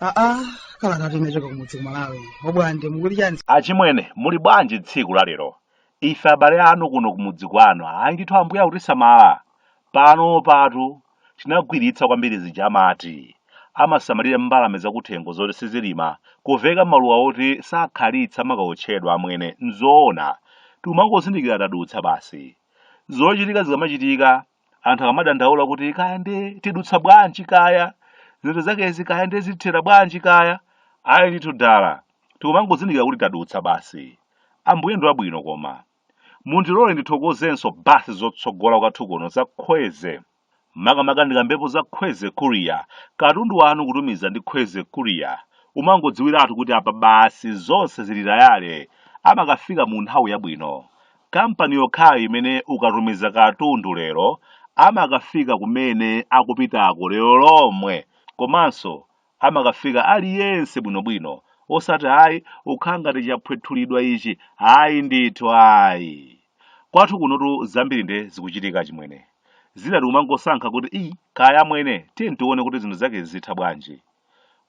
aa kalatatu imachoka kumudzi ku Malawi obwande mukuti chani achimwene muli bwanji tsiku la lero ife abale anu kuno kumudzi kwanu ayi ndithu ambuye akutisamala pano patu tinagwiritsa kwambiri zija amati amasamalira mbalame zakuthengo zoti sizilima kuveka maluwa oti sakhalitsa amakawotchedwa amwene nzoona tikumangozindikira tadutsa basi zochitika zikamachitika anthu akamadandaula kuti kaya nde tidutsa bwanji kaya zinthu zakezi kaya nde zithera bwanji kaya ayi ndithu dala tikumangozindikira kuti tadutsa basi ambuye ndi wabwino koma Mundilole ndithokozenso basi zotsogola kwathu kuno za Kweze. Makamaka ndikambepo za Kweze Courier, katundu wanu kutumiza ndi Kweze Courier, umangodziwiratu kuti apa basi zonse zili tayale, amakafika mu nthawi yabwino. Kampani yokhayo imene ukatumiza katundu lero, amakafika kumene akupitako lero lomwe komanso amakafika ali yense bwino bwino osati ayi kukhala ngati chaphwethulidwa ichi ayi ndithu ayi kwathu kunotu zambiri nde zikuchitika chimwene zina tikumangosankha kuti i kaya amwene tiye tione kuti zinthu zake zitha bwanji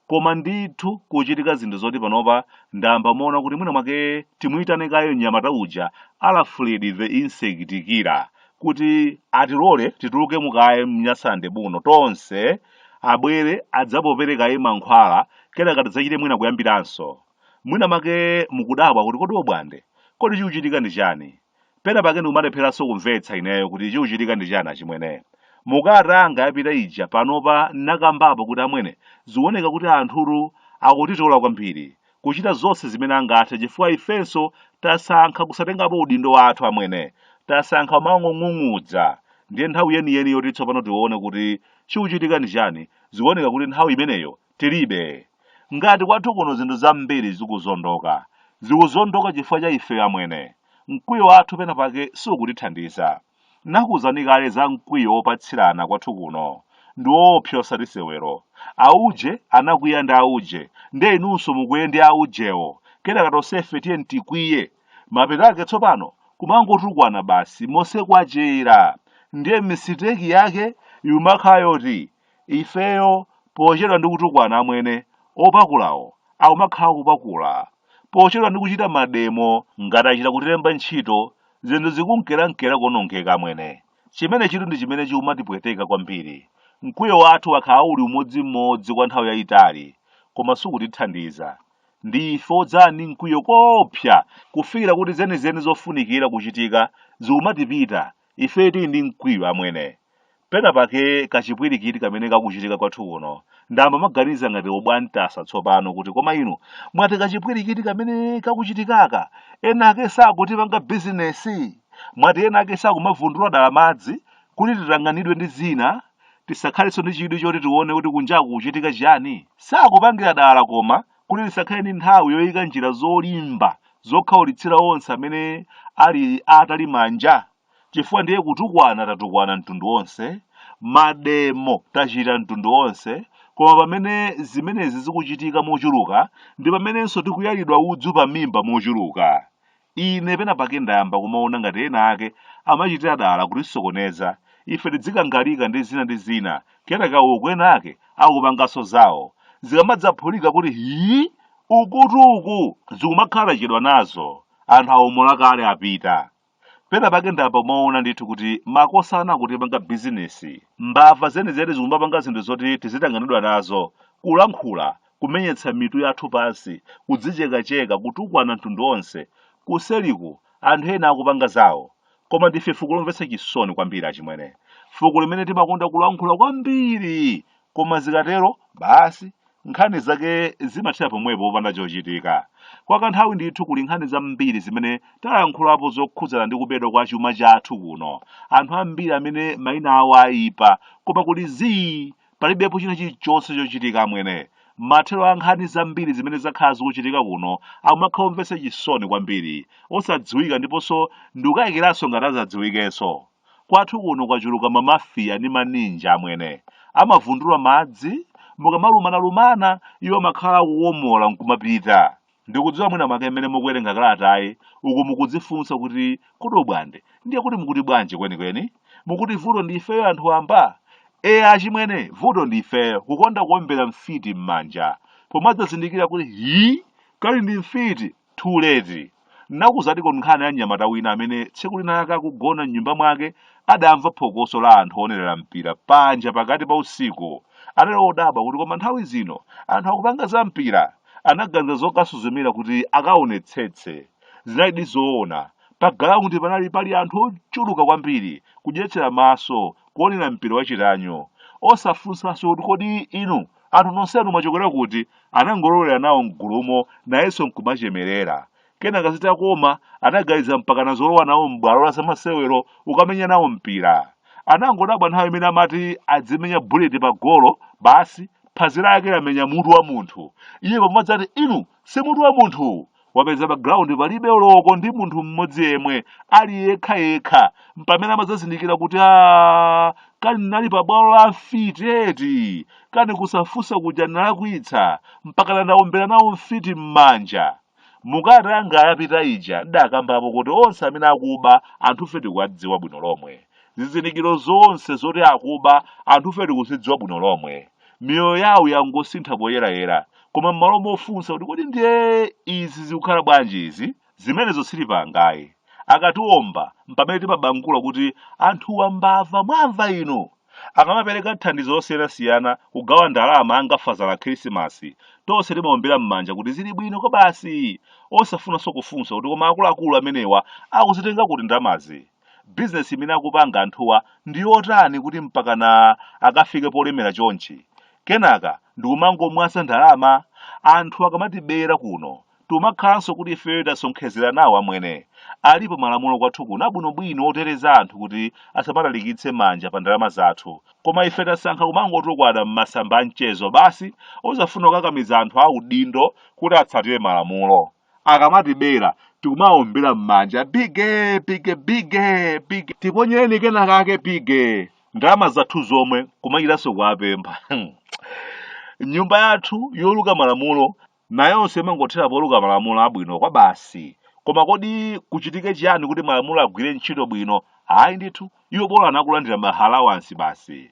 koma ndithu kuchitika zinthu zoti panopa ndayamba kuona kuti mwina mwake timuyitane kaye mnyamata uja Alfred the insect killer kuti atilole tituluke mukaye mNyasalande buno tonse abwere adzapopere kaye mankhwala kenaka tidzachite mwina kuyambiranso mwina make mukudabwa kuti kodi obwande kodi chikuchitika ndi chani pena pake ndikumalepheranso kumvetsa ineyo kuti chikuchitika ndi chani achimwene mukalata yapita ija panopa ndakambapo kuti amwene zikuoneka kuti anthutu akutitola kwambiri kuchita zonse zimene angathe chifukwa ifenso tasankha kusatengapo udindo wathu amwene tasankha kumangong'ung'udza ndiye nthawi yeniyeni yoti tsopano tione kuti chikuchitika ndi chani zikuoneka kuti nthawi imeneyo tilibe ngati kwathu kuno zinthu zambiri zikuzondoka zikuzondoka chifukwa cha ife amwene mkwiyo wathu pena pake sukutithandiza Nakuuzani kale za mkwiyo wopatsirana kwathu kuno. Ndi woopsa osati sewero. Auje anakwiya ndi auje, ndiye inunso mukwiye ndi aujewo. Kenaka tonsefe tiyeni tikwiye. Mapeto ake tsopano kumangotukwana basi mosekwachera. Ndiye misiteki yake ikumakhala yoti ifeyo pochedwa ndi kutukwana amwene opakulawo akumakhala kupakula. Pochedwa ndi kuchita mademo ngati achita kutilemba ntchito zinthu zikunkerankera kuonongeka amwene chimene chitu ndi chimene chikumatipweteka kwambiri mkwiyo wathu wakhala uli umodzimodzi kwa nthawi yayitali koma sukutithandiza ndi ife odzala ndi mkwiyo koopsa kufikira kuti zenizeni zofunikira kuchitika zikumatipita ife tili ndi mkwiyo amwene Pena pake kachipwirikiti kamene kakuchitika kwathu kuno, ndayamba kumaganiza ngati obwantasa tsopano kuti koma inu mwati kachipwirikiti kamene kakuchitikaka ena ake sakutipanga bizinesi mwati ena ake sakumavundula dala madzi kuti titanganidwe ndi zina tisakhalenso ndi chidwi choti tione kuti kunjaku kuchitika chiyani sakupangira dala koma kuti tisakhale ndi nthawi yoyika njira zolimba zokhaulitsira onse amene ali atali manja chifukwa ndiye kutukwana tatukwana mtundu wonse mademo tachita mtundu wonse koma pamene zimenezi zikuchitika mochuluka ndi pamenenso tikuyalidwa udzu pa mimba mochuluka ine pena pake ndayamba kumaona ngati ena ake amachitira dala kutisokoneza ife tidzikangalika ndi zina ndi zina kenaka uku ena ake akupanganso zawo zikamadzaphulika kuti hii ukutuku zikumakhala chedwa nazo anthu awomola kale apita Pena pake ndayamba kumaona ndithu kuti makosana akutipanga bizinesi. Mbava zenizeni zikumapanga zinthu zoti tizitanganidwa nazo, kulankhula, kumenyetsa mitu yathu pansi, kudzichekacheka, kutukwana mtundu wonse. Kuseliku, anthu ena akupanga zawo. Koma ndife fuko lomvetsa chisoni kwambiri achimwene. Fuko limene timakonda kulankhula kwambiri Koma zikatero, basi, nkhani zake zimathera pomwepo popanda chochitika. Kwa kanthawi ndithu kuli nkhani zambiri zimene talankhulapo zokhudzana ndi kubedwa kwa chuma chathu kuno. Anthu ambiri amene mayina awo aipa, koma kuli zii, palibepo china chilichonse chochitika amwene. Mathero a nkhani zambiri zimene zakhala zikuchitika kuno akumakhala omvetsa chisoni kwambiri, osadziwika ndiponso ndikukayikiranso ngati adzadziwikenso. Kwathu kuno kwachuluka ma mafia ndi ma ninja amwene amavundula madzi mukamalumana lumana iwo amakhala akuomola nkumapita. Ndikudziwa mwina mwake mmene mukuwerenga kalatayi uku mukudzifunsa kuti kodi obwande ndiye kuti mukuti bwanji kwenikweni? Mukuti vuto ndi ifeyo anthu wamba? Eya achimwene vuto ndi ifeyo kukonda kuombera mfiti m'manja. Pomadzazindikira kuti hii kali ndi mfiti! too late nakuuzaniko nkhani ya mnyamata wina amene tsiku linalake akugona mnyumba mwake adamva phokoso la anthu oonerera mpira panja pakati pa usiku anali odabwa kuti koma nthawi zino anthu akupanga za mpira anaganiza zokasuzumira kuti akaonetsetse zinalidi zoona pa galaundi panali pali anthu ochuluka kwambiri kudyetsera maso kuonera mpira wachitanyo osafunsanso kuti kodi inu Anthu nonsenu mwachokera kuti? Anangolowera nawo m'gulumo, nayenso n'kumachemerera. Kenaka zitakoma, anaganiza mpakana zolowa nawo m'bwalo la zamasewero kukamenya nawo mpira. Anangodabwa nthawi imene amati adzimenya buleti pagolo, basi, phazi lake lamenya mutu wa munthu. Iye pamodzi ati, Inu, si mutu wa munthuwu! wapeza pa ground palibe oloko ndi munthu mmodzi yemwe ali yekha yekha mpamene amadzazindikira kuti a kani nali pa bwalo la mfiti eti kani kusafunsa kuja nalakwitsa mpakana ndaombera nawo mfiti m'manja mukati anga ayapita ija ndakambapo kuti onse amene akuba anthufe tikuwadziwa bwino lomwe zizindikiro zonse zoti akuba anthufe tikuzidziwa bwino lomwe Miyoyo yawo yangosintha poyerayera. Koma m'malo mofunsa kuti kodi ndiye izi zikukhala bwanji izi, zimenezo sitipanga ayi. Akatiomba mpamene timabangula kuti anthuwa mbava mwamva inu! Akamapereka thandizo losiyanasiyana, kugawa ndalama ngati Father la Khirisimasi, tonse timaombera m'manja kuti zili bwino kwabasi! Osafunanso kufunsa kuti koma akuluakulu amenewa akuzitenga kuti ndalamazi? Bizinesi imene akupanga anthuwa ndi yotani kuti mpakana akafike polemera chonchi? Kenaka ndikumangomwaza ndalama? Anthu akamatibera kuno tikumakhalanso kuti ifeyo tasonkhezera nawo amwene. Alipo malamulo kwathu kuno abwinobwino oteteza anthu kuti asamatalikitse manja pa ndalama zathu. Koma ife tasankha kumangotukwana m'masamba a mchezo basi osafuna kukakamiza anthu audindo kuti atsatire malamulo. akamatibera tikumaombera m'manja bige bige bige bige tiponyereni kena kake bige ndalama zathu zomwe kumachitanso kuwapempha nyumba yathu yoluka malamulo nayonso imangothera poluka malamulo abwino kwa basi koma kodi kuchitike chiyani kuti malamulo agwire ntchito bwino ayi ndithu iwo bola kulandira ma alawansi basi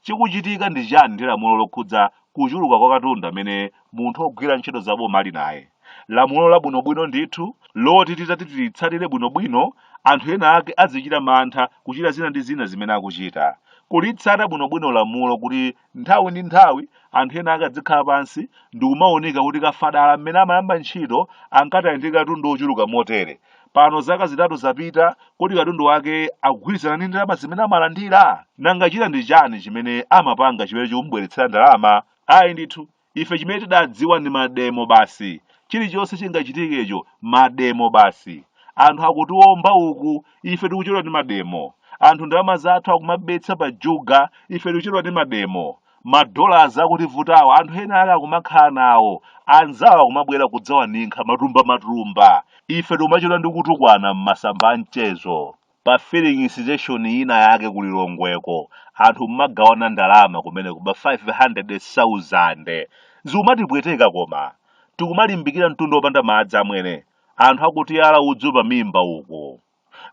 Chikuchitika ndi chani ndi lamulo lokhudza kuchuluka kwa katundu amene munthu ogwira ntchito za boma ali naye? Lamulo labwinobwino ndithu loti titati tilitsatire bwinobwino anthu ena ake azichita mantha kuchita zina ndi zina zimene akuchita. Kulitsata bwinobwino lamulo kuti nthawi ndi nthawi anthu ena ake adzikhala pansi ndikumaunika kuti Kafadala mmene amayamba ntchito ankati ali ndi katundu ochuluka motere, Pano zaka zitatu zapita, kodi katundu wake akugwirizana ndi ndalama zimene amalandira? Nanga china ndi chani chimene amapanga chimene chikumubweretsera ndalama? Ayi ndithu, ife chimene tidadziwa ndi mademo basi. Chilichonse chingachitikecho, mademo basi. Anthu akutiomba uku, ife tikuchedwa ndi mademo. Anthu ndalama zathu akumabetsa pa juga, ife tikuchedwa ndi mademo. ma dollars akutivutawo anthu ena ake akumakhala nawo anzawo akumabwera kudzawaninkha matumbamatumba ife tikumachedwa ndi kutukwana m'masamba a mchezo pa filling station ina yake ku Lilongweko anthu kumagawana ndalama kumeneko ma 500,000 zikumatipweteka koma tikumalimbikira mtunda opanda madzi amwene anthu akutiyala udzu pamimba uku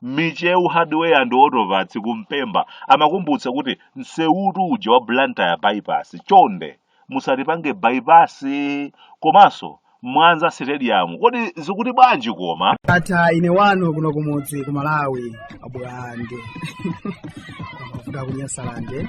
Michewu Hardware and Auto Parts ku Mpemba amakumbutsa kuti msewutu uja wa Blantyre bypass chonde musatipange bypass komanso Mwanza Stadium kodi zikuti bwanji koma? ata ine wanu kuno kumudzi ku Malawi abwande kuda kunyasalande